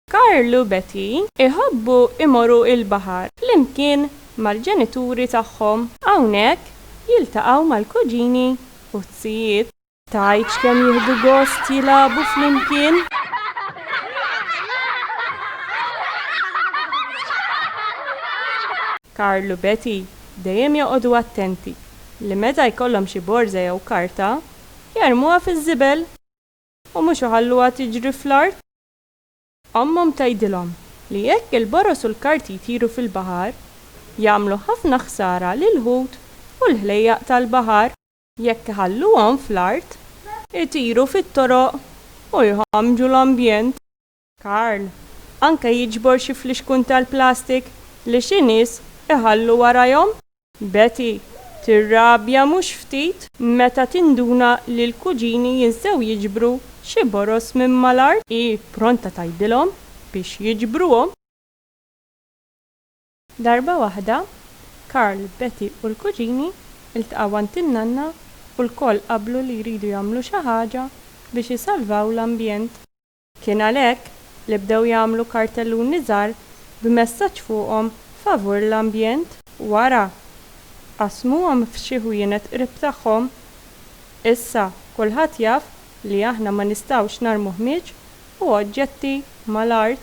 Karl u Betty iħobbu jmorru l-baħar flimkien mal-ġenituri tagħhom. Hawnhekk jiltaqgħu mal-kuġini u t-tijiet. Tgħidx kemm jieħdu gost jilagħbu flimkien? Karl u Betty dejjem joqogħdu attenti li meta jkollhom xi borża jew karta, jarmuha fiż-żibel u mhux iħalluha tiġri fl-art. Ommhom tgħidilhom li jekk il-boroż u l-karti jtiru fil-baħar, jagħmlu ħafna ħsara lill-ħut u l-ħlejjaq tal-baħar. Jekk iħalluhom fl-art. Itiru fit-toroq u jħammġu l-ambjent. Karl, anke jiġbor xi flixkun tal-plastik li xi nies iħallu warajhom. Betty, tirrabja mhux ftit. Meta tinduna li l-kuġini jinsew jiġbru xi boroż minn mal-art. Hi pronta tgħidilhom biex jiġbruhom. Darba waħda, Karl, Betty u l-kuġini ltqgħu għand in-nanna u lkoll qablu li jridu jagħmlu xi ħaġa biex isalvaw l-ambjent. Kien għalhekk li bdew jagħmlu kartelluni żgħar b'messaġġ fuqhom favur l-ambjent. Wara, qassmuhom f'xi ħwienet qrib tagħhom. Issa, kulħadd jaf li aħna ma nistgħux narmu ħmieġ u oġġetti mal-art.